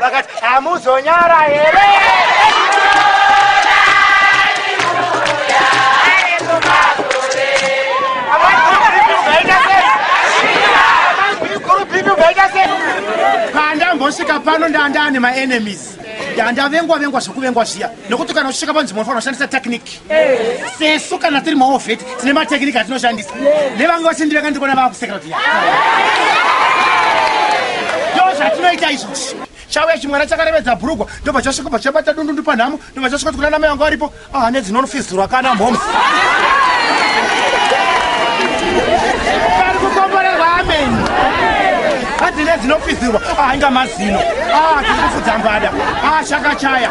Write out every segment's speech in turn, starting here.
vakati hamuzonyara here pandambosvika pano ndandane maenemies ndandavengwa vengwa zvekuvengwa zviya nekuti kana uchisvika panzvimbo unofanira kushandisa technique sesu kana tiri maovheti tine matekiniki atinoshandisa nevange vachindi vakandikona vakuseka kuti ndo zvatinoita izvozvi chauya chimwana chakarevedza bhurugwa ndobva chasvikobva chabata dundundu panhamo ndobva chasvika tikuna namai vangu varipo ahane ah, dzinonofizirwa kana mhoms dzine dzinopizirwa ahinga ah, mazino ah, tiri kufudza mbada ashakachaya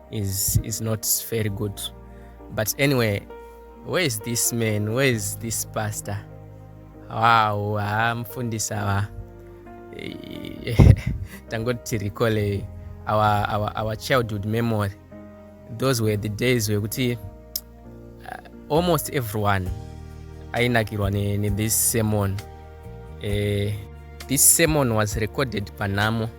is is not very good but anyway where is this man where is this pastor wow haa mfundisi awa tangoti tirikole our, our, our childhood memory those were the days wekuti uh, almost everyone ainakirwa nethis ne sermon uh, this sermon was recorded panhamo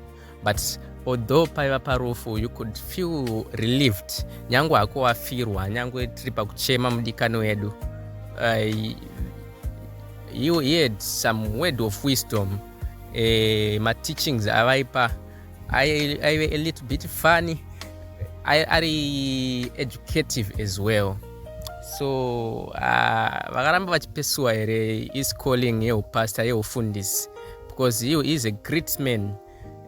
but although paiva parufu you could feel relieved nyange hako wafirwa nyange tiri pakuchema mudikani wedu uh, he, he had some word of wisdom uh, eh, mateachings avaipa aive a little bit funny ari educative as well so uh, vakaramba vachipesuwa here is calling yeupastor yeufundisi because he is a great man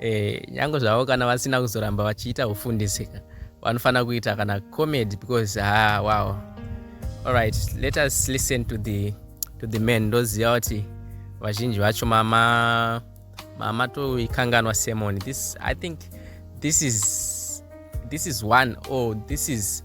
eh, nyange zvavo kana vasina kuzoramba vachiita ufundisi ka vanofanira kuita kana comedy because ha ah, wow alright let us listen to the, to the man ndoziva kuti vazhinji vacho mama mama toikanganwa semoni this i think this is this is one or oh, this is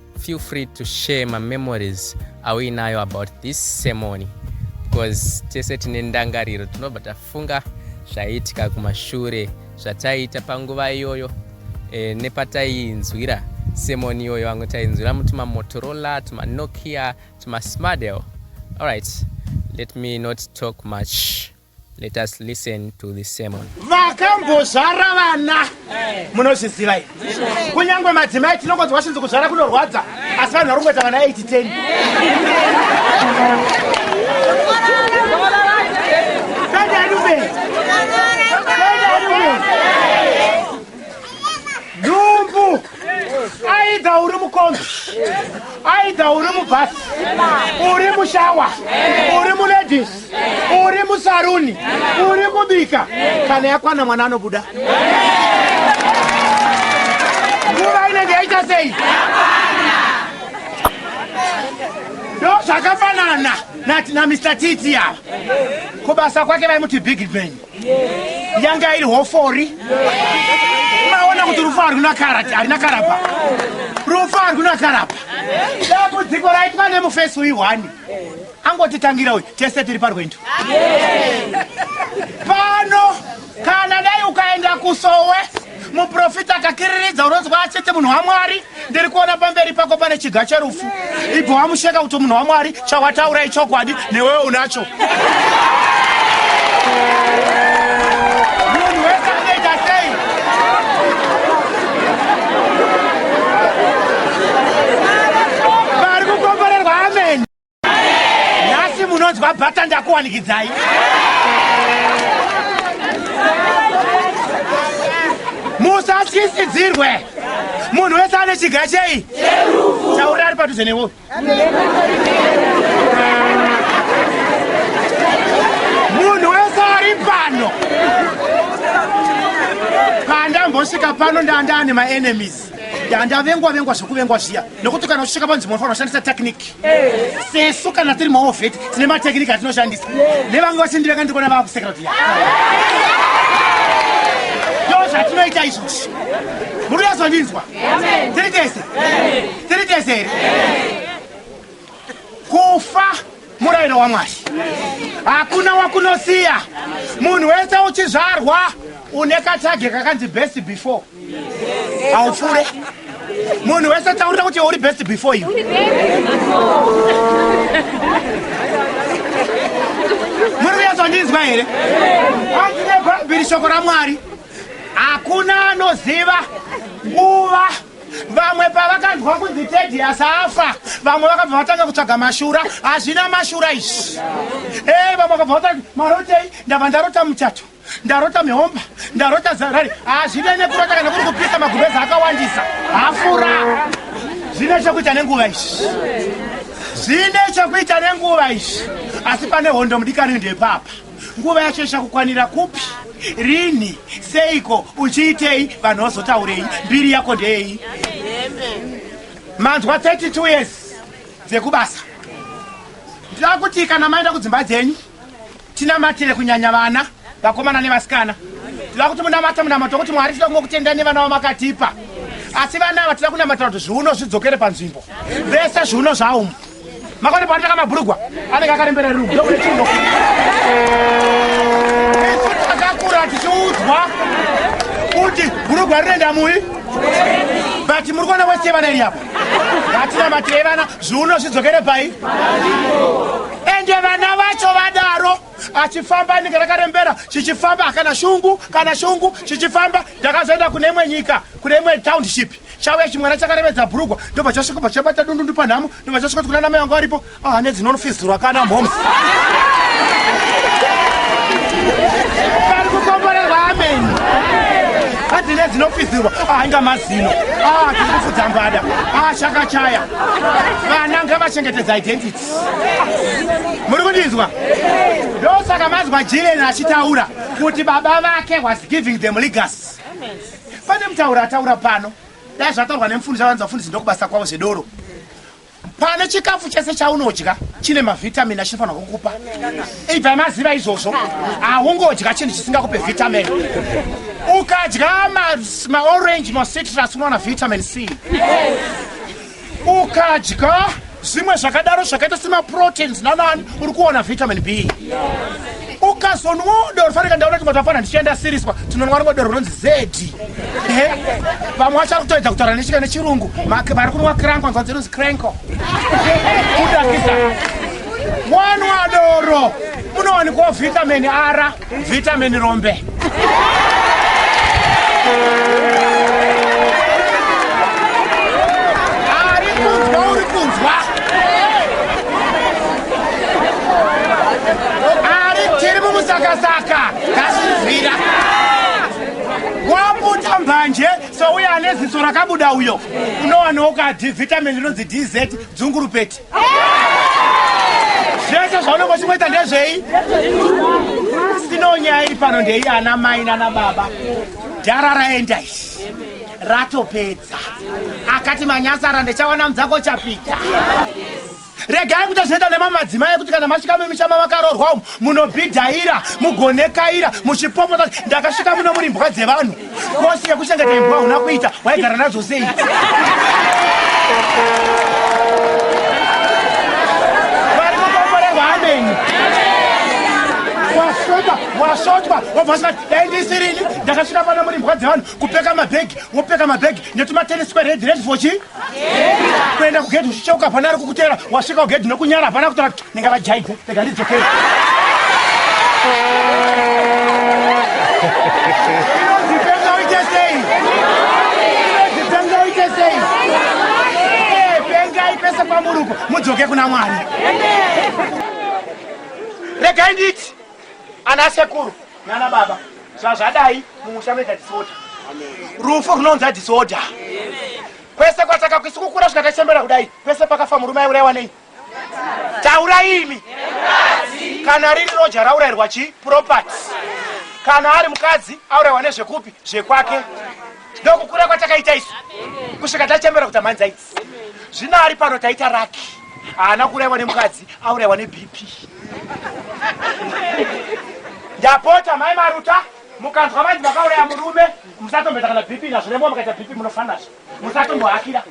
feel free to share my memories auinayo about this ceremony because tese tine ndangariro tinobva tafunga zvaiitika kumashure zvataiita panguva iyoyo e, nepataiinzwira semoni iyoyo vamwe tainzwira mutumamotorola tumanokia tumasmadel allright let me not talk much Let us listen to this sermon. Vakambozvara vana munozviziva here? Kunyangwe madzimai tinongonzi washinzi kuzvara kunorwadza asi vanhu vari kungoita vana 8 10. dumbu aidha uri mukombi aidha uri mubhasi uri mushawa uri muledis uri musaruni uri kubika kana yakwana mwana anobuda nguva inenge yaita sei ndo zvakafanana nati namr titi ava kubasa kwake vaimuti big man yanga iri hofori maona kuti rufu harina karati harina karapa rufu harina karapa dambudziko raitwa nemufesi uyu hwani angotitangira uyu tese tiri parwendo pano kana dai ukaenda kusowe muprofita akakiriridza unonzwa achete munhu wamwari ndiri kuona pamberi pako pane chiga cherufu ibva wamusheka kuti munhu wamwari chawataura ichokwadi newewe unacho munhu wese anoita sei vari kukomborerwa ameni nhasi munonzwa bhata ndakuwanikidzai musatyisidzirwe munhu wese ane chiga chei taura ari padhuze newo munhu wese ari pano pandambosvika pano ndandane maenemies ndavengwa vengwa zvekuvengwa zviya nokuti kana uchisvika panzvimbo unofanira kushandisa tekiniki sesu kana tiri maovheti tine matekiniki atinoshandisa nevamwe vachindivenga ndikona vakusekera kuti ndo zvatinoita izvozvi muri yazondinzwa tiri tese tiri tese here kufa murayiro wamwari hakuna wakunosiya munhu wese uchizvarwa une katage kakanzi best before haupfuure munhu wese taurira kuti uri best before you muri kuyazondinzwa here hanzi nebhaibheri shoko ramwari hakuna anoziva nguva vamwe pavakanzwa kunzi tedi asafa vamwe vakabva vatanga kutsvaga mashura hazvina mashura izvi e vamwe vakabva vatanga marotei ndava ndarota muchato ndarota mihomba ndarota zarari hazvine ah, nekurota kana kuri kupisa magubeza akawandisa hafura zvine chokuita nenguva izvi zvine chokuita nenguva izvi asi pane hondo mudikani ndepapa nguva yacho ichakukwanira kupi rini seiko uchiitei vanhu vazotaurei mbiri yako ndeyei manzwa 32 years dzekubasa ndakuti kana maenda kudzimba dzenyu Tinamatire kunyanya vana, vakomana nevasikana. Tinoda kuti munamate munamato wekuti Mwari tinoda kungokutendai nevana vamakatipa. Asi vana ava tinoda kunamatira kuti zviuno zvidzokere panzvimbo. Vese zviuno zvaumu. Makoni paanotaka mabhurugwa anenge akarembera rumu. Ndokuti chino. Isu takakura tichiudzwa kuti bhurugwa rinoenda mui. But muri kuona wese vana iri apa. Hatina matirei vana zviuno zvidzokere pai. ende vana vacho vadaro achifamba inenge rakarembera chichifamba hakana shungu kana shungu chichifamba ndakazoenda kune imwe nyika kune imwe township chauya chimwana chakarevedza bhurugwa ndobva chasvika bva chabata dundundu panhamo ndobva chasvika kuti kuna namai vangu varipo ahane dzinonofizirwa kana mhomo dzine dzinofizirwa ainga mazino ah, tiri kufudza mbada ah, chakachaya vana ngavachengetedza identity muri kundinzwa ndosaka manzwa jilen achitaura kuti baba vake was giving them legas pane mutaura ataura pano dai zvataurwa nemufundisi avanzi vafundisi ndokubasa kwavo zvedoro pane chikafu chese chaunodya chine mavitamin achinofanira kukupa ibva maziva izvozvo haungodya chinhu chisingakupe vitamin ukadya maorange macitrus unowana vitamin c ukadya zvimwe zvakadaro zvakaita semaproteins nanani uri kuona vitamin b ukazonwawo doro fanira ndaona kuti matapana ndichienda siriswa tinonwa rimwe doro rinonzi zedi vamwe vachari kutoedza kutaura nechika nechirungu vari kunwa kranko nzwa dzinonzi kranko kudakisa wanwa doro munowanikwawo vitamin ara Vitamin rombe. manje souya ane ziso rakabuda uyo unowanawo kadhi vitamin rinonzi dz dzungurupeti zvese zvaunenge uchingoita ndezvei sino nyaya iri pano ndeiyi ana mai nana baba dhara raenda izvi ratopedza akati manyasara ndichawana mudzako chapita regai kuita zvinoita nemamadzimai ekuti kana masvika mumisha mavakarorwa umu munobhidhaira mugonekaira muchipopota ndakasvika muno muri mbwa dzevanhu Kosi yekushanda tembo hauna kuita waigara nadzo sei? Vari kukomborerwa ameni. Wasvota, wasvotwa, wabva usingati dai ndisirini ndakasvika pano muri mbwa dzevanhu kupeka mabhegi wopeka mabhegi netumatenesi kweredhi redhi for chii? kuenda kugedhi uchicheuka hapana ari kukutera wasvika kugedhi nokunyara hapana kutora kuti ndinga vajaidze rega ndidzokere pese pamuruko mudzoke kuna mwari regai nditi ana sekuru nana baba zvazvadai mumusha munoita disorder rufu runounza disorder kwese kwataka kwisi kukura svika tachembera kudai pese pakafa murume aiuraiwa nei taura imi kana riri roja raurairwa chi property kana ari mukadzi auraiwa nezvekupi zvekwake ndokukura kwatakaita isu kusvika tachembera kuti amhanzi aidzi zvino ari pano taita raki haana kuraiwa nemukadzi auraiwa nebp ndapota mai maruta mukanzwa vanzi vakauraya murume musatombeta kana bp nazvo nemoa mukaita bp munofanazvo musatombohakira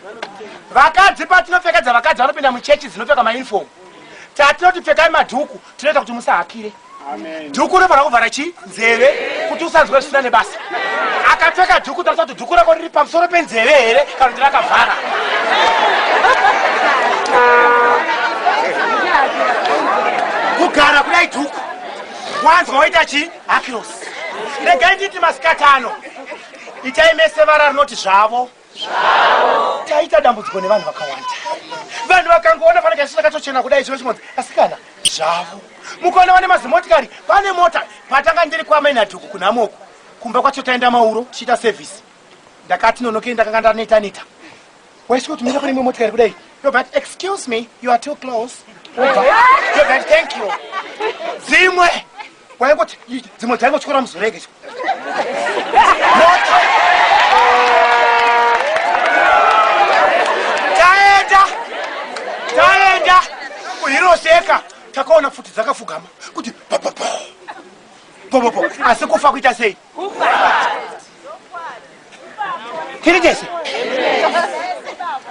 vakadzi patinopfekedza vakadzi vanopinda muchechi dzinopfeka maunifomu tatinoti pfekai madhuku tinoita kuti musahakire dhuku rinofanira kuvhara chii nzeve kuti usanzwe zvisina nebasa akapfeka dhuku tarisa kuti dhuku rako riri pamusoro penzeve here kana kuti rakavhara kugara kudai dhuku wanzwa waita chii hakirosi regai nditi masikati ano itai mese vara rinoti zvavo taita dambudziko nevanhu vakawanda vanhu vakangoona pane kaisina katochena kudai chino chimonzi asikana zvavo mukaona vane mazimotikari pane mota patanga ndiri kwamainadhuku kunamoku kumba kwacho taenda mauro tichiita sevhisi ndakati nonokei ndakanga ndaneta neta waisvi kuti mira kune imwe motikari kudai yobva ti excuse me you are too close yobva ti thank you dzimwe Waingoti dzimwe dzaingotyora muzorege. Taenda. Taenda. Kuhiroseka takaona futi dzakafugama kuti popopo. Popopo. Asi kufa kuita sei? tiri tese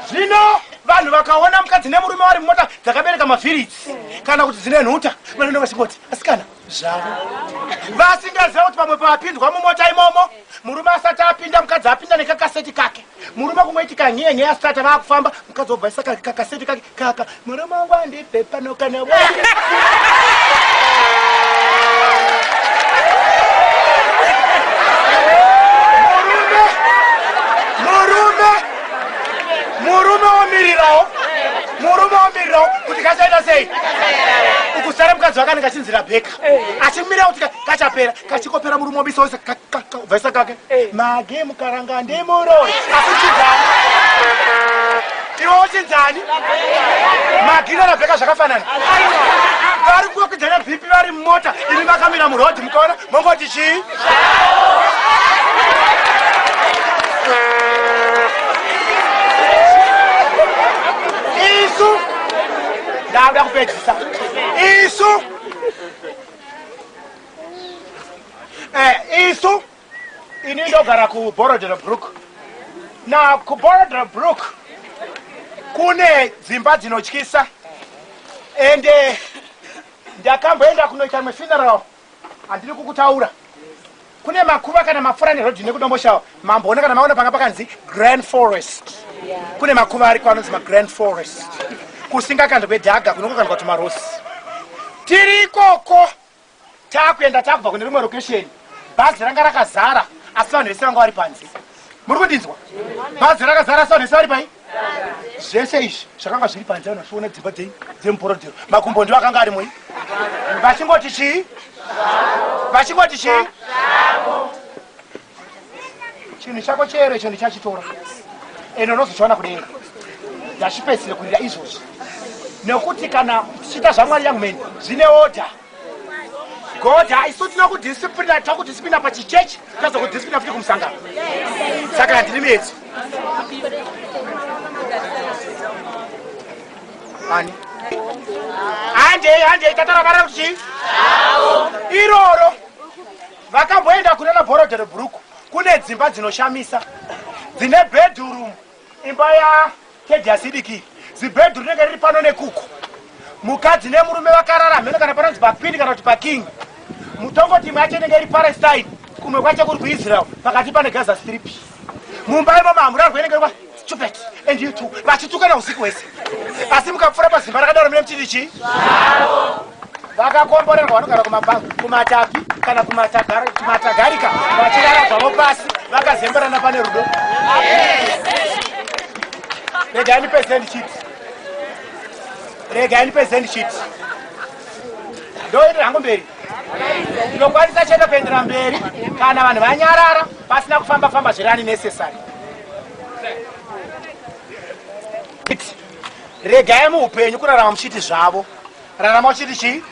zvino vanhu vakaona mukadzi nemurume vari mumota dzakabereka mavhiritsi kana kuti dzine nhuta vanoenda vachingoti asikana zvavo vasingaziva kuti pamwe pavapinzwa mumota imomo murume asati apinda mukadzi apinda nekakaseti kake murume kungoiti kanhiye nheya stata vakufamba mukadzi wobvaisa kakaseti kake kaka murume wangu andipe pano kana murume womirirawo murume womirirawo kuti kachaita sei ukusara mukadzi wakanenge achinzira bheka achimira kuti kachapera kachikopera murume wobisa wese vaisa kake eh. mage mukaranga ndimuroi akuchidhani iwe uchinzani magina rabheka zvakafanana vari kuokidzana bhipi vari mumota imi vakamira murodhi mukaona mongoti chii isu ndakuda kupedzisa isu eh, isu ini ndogara kuborodero brook na kuborodero brook kune dzimba dzinotyisa ende eh, ndakamboenda kunoita imwe funeral handiri kukutaura kune makuva kana mapfura nerodhi nekudomboshawa mamboona kana maona panga pakanzi grand forest kune makuva ariko anonzi magrand forest kusingakandwa kwedhaga kunongokandwa tumarosi tiri ikoko takuenda takubva kune rimwe rokesheni bhazi ranga rakazara asi vanhu vese vanga vari panze muri kundinzwa bhazi rakazara so nese vari pai zvese izvi zvakanga zviri panze ano zviona dzimba dzenyu dzemuporodhero makumbo ndiwo akanga ari moi vachingoti chii vachingoti chii chinhu chako chero icho ndichachitora ende unozochiona kudenga ndachipedzisire kurira izvozvi nekuti kana tichiita zvamwari yangu meni zvine odha god haiso tino kudisiplina tino kudisiplina pachichechi tazo kudisiplina futi kumusangano saka handiri metso ani handei handei tataravara kuti iroro vakamboenda kunana borodero bhuruku kune dzimba dzinoshamisa dzine bedhurumu Imba ya tedi asidiki zibhedhu rinenge riri pano nekuku mukadzi nemurume vakarara mheno kana panonzi papindi kana kuti paking mutongo timu yacho inenge iri palestine kumwe kwacho kuri kuisrael pakati pane gaza strip mumba imo mahamurarwa inenge iri stupid and you two vachitukana usiku hwese asi mukapfura pazimba rakadaro mine mchiti chii vakakomborerwa vanogara kumatapi kana kumatagarika vachirara zvavo pasi vakazemberana pane rudo regai ndipezeni chit regai ndipezeni chit ndoendera hangu mberi ndinokwanisa chete kuendera mberi kana vanhu vanyarara pasina kufamba famba zviri ani necessary regai muupenyu kurarama muchiti zvavo Rarama uchiti chii?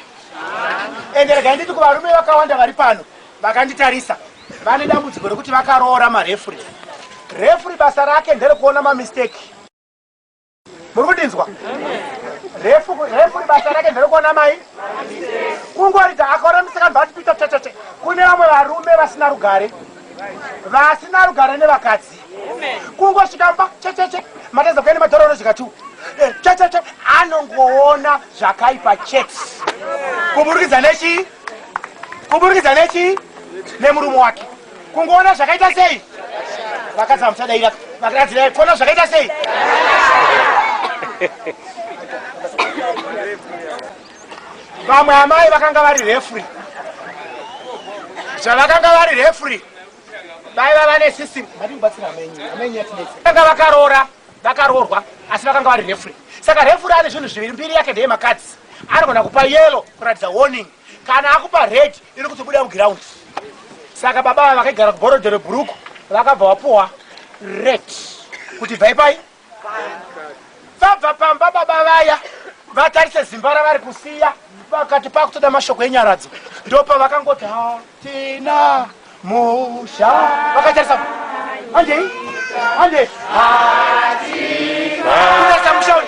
Ende regai nditi kuvarume vakawanda vari pano vakanditarisa vane dambudziko rekuti vakaroora marefuri. Refuri basa rake nderekuona mamisteki. Muri kundinzwa? Refuri basa rake nderekuona mai kungoridza akaona misikana vatipita tete kune vamwe varume vasina rugare vasina rugare nevakadzi kungosvika pa checheche matadza kuya nemadhora unozvika tu eh, checheche anongoona zvakaipa chete kuburikidza nechi kuburikidza nechi nemurume wake kungoona zvakaita sei vakadzi vamuchadaira vakadzi kuona zvakaita sei vamwe amai vakanga vari refri zvavakanga vari refri vaiva vane system vatibatsira amenyi amenyi yatinetsa vanga vakaroora vakaroorwa asi vakanga vari refure saka refure ane zvinhu zviviri mbiri yake ndeye makadzi anogona kupa yelo kuratidza warning kana akupa red iri kuti buda muground saka baba vakaigara kuborodero bhuruku vakabva vapuwa red kuti bvai pai vabva pamba baba vaya vatarise zimba ravari kusiya vakati pakutoda mashoko enyaradzo ndopa vakangoti hatina musha vakatarisa andei andei hatina musha uyu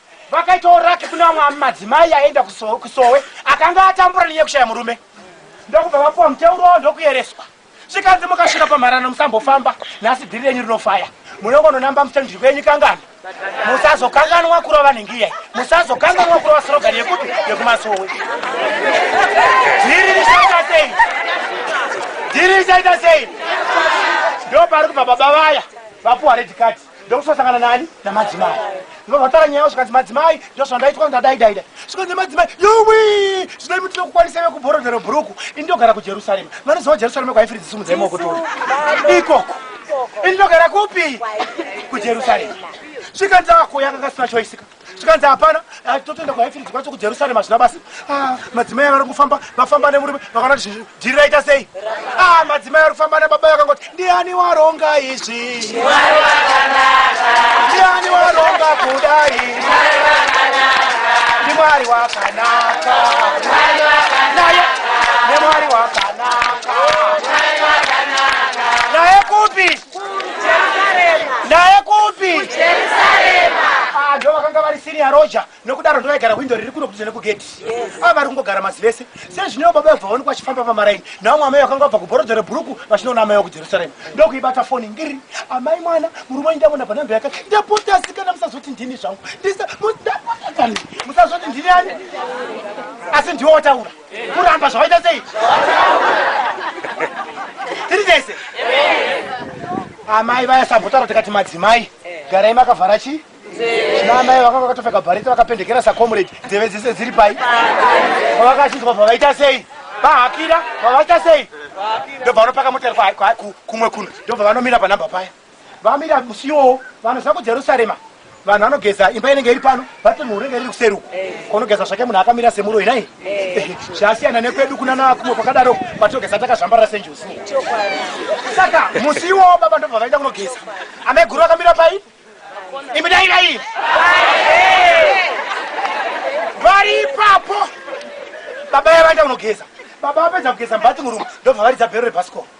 vakaitawo raki kune vamwe madzimai aenda kusowe akanga atambura nenyaya kushaya murume ndokubva vapuwa muteuro wavo ndokuyereswa zvikanzi mukasvika pamharano musambofamba nhasi dhiri renyu rinofaya munongononamba muchanji kwenyu kangana musazokanganwa kurova nengiyai musazokanganwa kurova sorogani yekuti yekumasowe dhiri richaita sei dhiri richaita sei ndopari kubva baba vaya vapuwa redikati ndokusosangana nani namadzimai ndinovatara nyaya yavo zvikanzi madzimai ndozvandaitwa ndadaidaida zvikanzi madzimai yowi zvinoi mutino kukwanisa ve kubhorodhero bhuruku ini ndogara kujerusarema vanoziva jerusarema kwaifiri dzisimudzaimaokutori ikoko ini ndogara kupi kujerusarema zvikanzi akoyakakasina choisika zvikanzi hapana ah, totoenda kuhaifiriji kwacho kujerusarema hazvina basa ah, madzimai avari kufamba vafamba nemurume vakaona kuti zvinhu dhiri raita sei ah, madzimai ari kufamba nebaba vakangoti ndiani waronga izvi ndiani waronga kudai ndimwari wakanaka naye nemwari wakanaka naye kupi naye kupi ah, ndo vakanga vari senior roja nokudaro ndovaigara hwindo riri kuno kudze nekugedhi ava ah, vari kungogara masi vese sezvineo baba vabva vaonekwa vachifamba pamaraini navo mwamai vakanga vabva kubhorodha rebhuruku vachinoona amai wakujerusalema ndokuibata foni ngiri amai mwana murume wanyu ndavona panhambe yaka ndapotasikana musazoti ndini zvangu ndisa musazoti ndini ani asi ndiwo wataura kuramba zvavaita sei tiri tese amai vaya sambotaura tikati madzimai garai makavhara chii namai vakanga vakatopfeka bhareti vakapendekera sacomrade nzeve dzese dziri pai pavakachinzwa pavaita sei vahakira pavaita sei ndobva vanopaka motari kumwe kuno ndobva vanomira panhamba paya Vamira musi iwowo vanoziva kuJerusarema vanhu vanogeza imba inenge iri pano vati mhuru inenge iri kuseri uko konogeza zvake munhu akamira semuroyi nai zvasiyana nekwedu kuna nakumwe kwakadaro kwatogeza takazvambarira senjuzi saka musi iwowo baba ndobva vaenda kunogeza amai guru vakamira pai imi dai dai vari ipapo baba yavaenda kunogeza baba vapedza kugeza mbatinguru ndobva varidza bhero rebhasikoro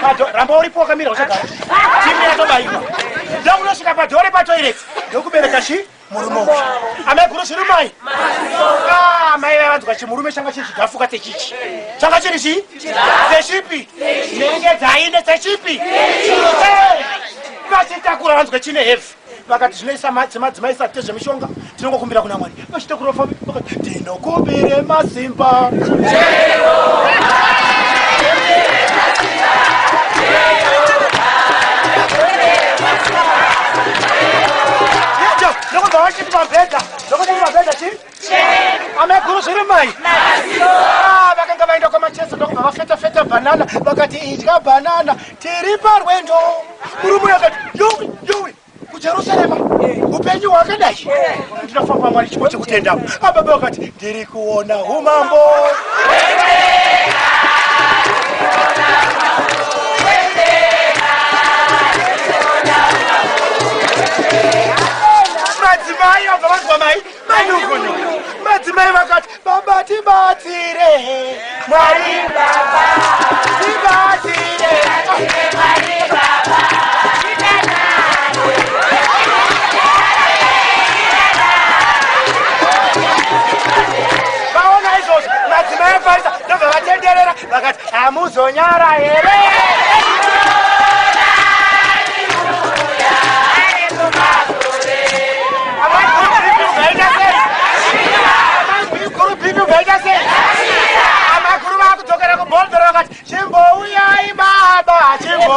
Pado, ramba uripo wakamira usagara. Timu yatobaiwa. Ndokunosvika pado uri patoilet. Ndokubereka chi murume uyu. Ameguru zviri mai. Ah, mai vaya vanzwa chimurume changa chiri chigafuka sechichi. Changa chiri chi? Sechipi. Nenge dzaine sechipi. Vachitakura vanzwa chine heavy. vakati zvinoisa matsi madzimai isati tezvemishonga tinongokumbira kuna mwari vachita kurofa vakati tinokumbire masimba Look at the ameguru zviri mai ah, vakanga vaenda kwamacheso ndokubva vafeta feta banana vakati idya banana tiri parwendo murume akati yowi yowi kujerusarema upenyu hwakadai ndinofamba mwari chipo chekutenda ababa vakati ndiri kuona umambo madzimai vabva vanzwa mai Manungunungu madzimai vakati baba tibatsire Mwari baba tibatsire Mwari baba vaona izvozvo madzimai afarisa ndobva vatenderera vakati hamuzonyara here amakuru vakudzokera kuboldero vakati chimbouyai baba chimbo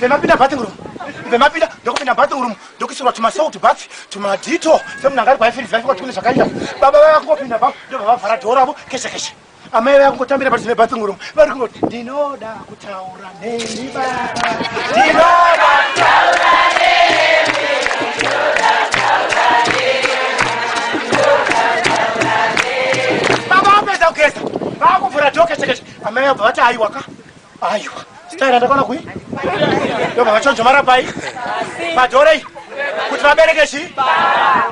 vemapinda bathing room vemapinda ndokupinda bathing room ndokuisirwa tumasalt bath tumadito semunhu angari kwaifirizi vaifika tikune zvakaita baba vaya kungopinda ba ndobva vavhara dhoo ravo keshe keshe amai vaya kungotambira pati zvine bathing room vari kungoti ndinoda kutaura neni baba ndinoda kutaura baba vapedza kugeza vakuvhura dhoo keshe keshe Amai abva vati aiwa ka aiwa staira ndakona kui ndobva vachonjomara pai padhorei kuti vabereke chi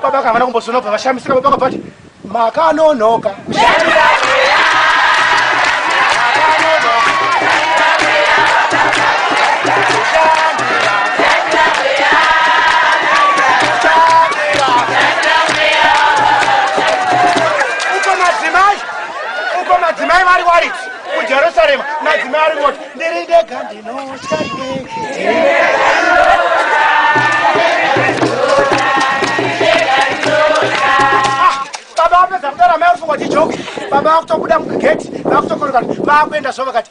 baba kavana kumbozonobva vashamisika baba kabva vati makanonoka uko madzimai vari wariti kujerusarema madzimai ari moti ndiri ndega ndinotya baba vapedza kutaura mai uri fungwa tijoki baba vakutobuda mugegeti vakutokoroka vakuenda zvo vakati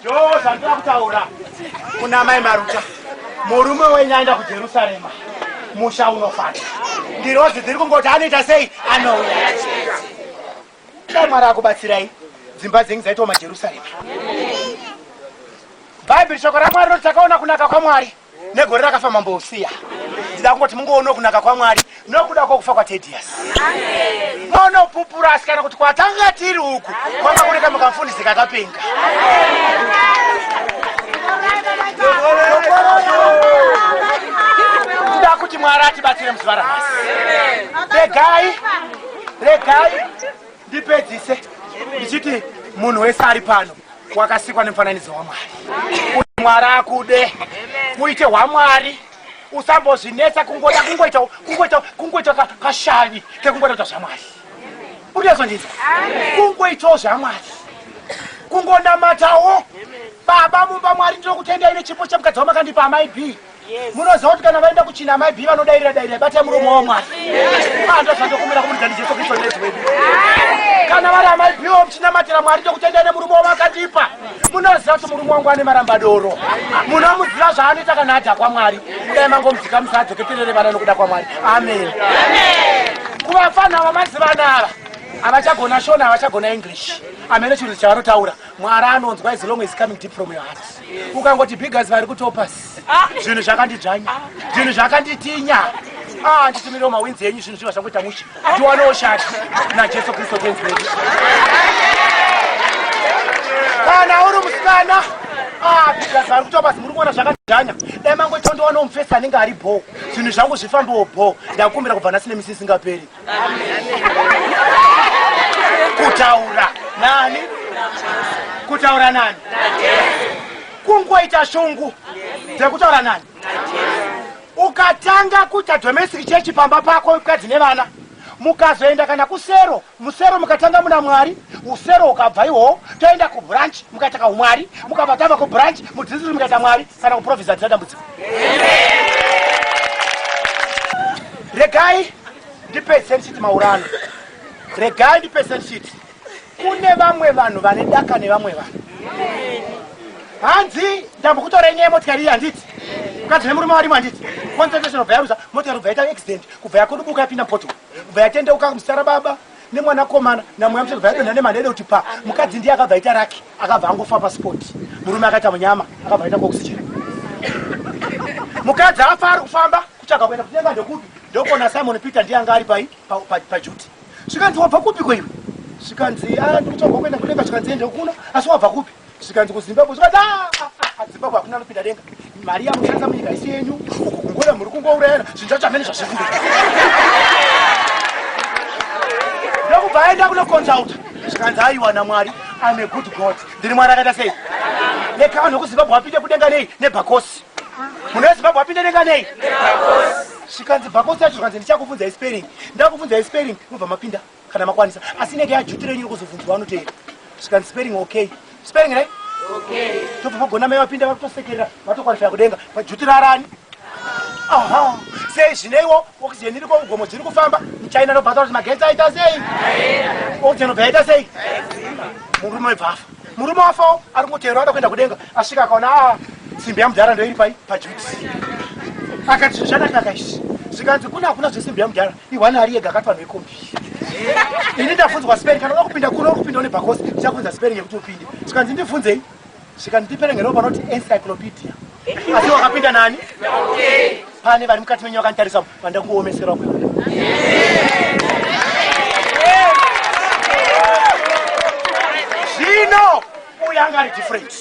Ndoo zvandira kutaura kuna mai Maruta. Murume wenyu aenda kuJerusarema. Musha unofata. Ngirozi dziri kungoti anoita sei? Anouya. Dai Mwari akubatsirai. Dzimba dzenyu dzaitwa maJerusarema. Bhaibheri shoko raMwari roti takaona kunaka kwaMwari. negore rakafa mambo usiya ndida kungoti mungoono kunaka kwamwari nokuda kwokufa kwatedius monopupura asi kana kuti kwatanga tiri uku kwanga kune kamwe kamufundisi kakapenga ndida kuti mwari atibatsire muzuva ranhasi regai regai ndipedzise ndichiti munhu wese ari pano wakasikwa nemufananidzo wamwari kuti mwari akude uite hwamwari usambozvinetsa kungoda kungoita kungoita kungoita kashavi kekungoda kuita zvamwari urizondinzwa kungoitawo zvamwari kungonamatawo baba mumba mwari ndinokutendai nechipo chemukadzi wamakandipa amai b munoziva kuti kana vaenda kuchina amai bi vanodairira dairira batai muromo wavo mwari anda zvandokumira kumudza ndijesu kristu nezi wedu kana vari amai bi wo muchinamatira mwari ndokutendai nemurume wavo akandipa munoziva kuti murume wangu ane maramba doro munomuziva zvaanoita kana adha kwamwari kudai mangomudzika musaadzoketerere vana nokuda kwamwari amen kuvafana vamaziva nava havachagona shona havachagona english amene chinhu chavanotaura mwari anonzwa izilong is coming deep from your heart ukangoti bigas vari kutopas zvinhu zvakandidzvanya zvinhu zvakanditinya ah, nditumirewo mawinzi enyu zvinhu zviva zvangoita mushe ndiwanewo shati najesu kristu tenzi wedu kana uri musikana bhizinesi ah, vari kutoa basi muri kuona zvakajanya dai mangotondowana umufesi anenge ari bho zvinhu zvangu zvifambewo bho ndakumbira kubva nhasi nemisi isingaperi kutaura nani kutaura nani kungoita shungu dzekutaura nani ukatanga kuita domestic chechi pamba pako mukadzi nevana mukazoenda kana kusero musero mukatanga muna mwari usero ukabva ihowo toenda kubranch mukaita kaumwari mukabva tava kubranch mudzidzisi mukaita mwari Saka kuprofesa hatina dambudziko. Regai ndipedzise ndichiti maurano. Regai ndipedzise ndichiti kune vamwe vanhu vane daka nevamwe vanhu. Hanzi ndambokutora inyaya motikari iyi handiti? Mukadzi nemurume warimo handiti? Concentration of Yaruza, motikari kubva yaita accident, kubva yakodobuka yapinda poto, kubva yatendeuka musara baba nemwanakomana namweya msoro kubva yadonha nemanede kuti pa mukadzi ndiye akabva yaita raki. akabva angofa paspot murume akaita munyama akabva aita oxygen mukadzi afa ari kufamba kutsvaga kuenda kunyenga ndokupi ndokona simon peter ndiye anga ari pai pajuti zvikanzi wabva kupi ko iwe zvikanzi ah, ndikutsvaga kuenda kunyenga zvikanzi ende kuno asi wabva kupi zvikanzi kuzimbabwe zvikanzi ah, ah, zimbabwe hakuna anopinda denga mari yamushandisa munyika isi yenyu uku kungona muri kungourayana zvinhu zvacho hamene zvazviri ndokubva aenda kunoconsulta zvikanzi aiwa namwari im a good god ndiri mwari akaita sei nekawa nokuzimbabwe apinde kudenga nei nebhakosi munhu wezimbabwe apinde denga nei zvikanzi bhakosi yacho zvikanzi ndichakubvunza ispering ndakubvunza ispering mubva mapinda kana makwanisa asi inenge yajuti renyu rokuzobvunzwa anoteera svikan spering okay spering right tobva vagona mai vapinda vakutosekerera vatokwalifya kudenga pajuti rarani aha sei zvineiwo oxygen iri kougomo dziri kufamba muchina nobata kuti magetsi aita sei oxygen obva yaita sei murume webva afa murume wafawo ari kutero ada kuenda kudenga asvika akaona a ah, simbi yamudhara ndoiri pai pajuti akati zvinhu zvakanaka izvi zvikanzi kune hakuna zvesimbi yamudhara Iwana ari ega akati vanhu vekombi. Ini ndafunzwa spelling kana unoda kupinda kuno kupinda une bhakosi ndichafunza spelling yekuti upinde. Zvikanzi ndifunzei? Zvikanzi ndipere ngeropa anoti encyclopedia. Asi wakapinda nani? Okay. Pane vari mukati menyu vakanditarisa vanda kuomeserwa kwe. Zvino uya anga ari different.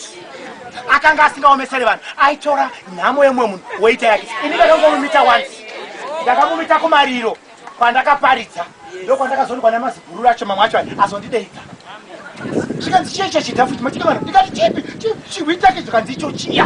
Akanga asingaomesere vanhu. Aitora nhamo yemwe munhu woita yake. Ini ndakangomumita once. ndakamumita kumariro kwandakaparidza ndokwandakazoonekwa namaziguru racho mamwe acho azondideidza zvikanzi chiya icho chidhafu chimatika vanhu ndikati chipi chihwitake zvikanzi icho chiya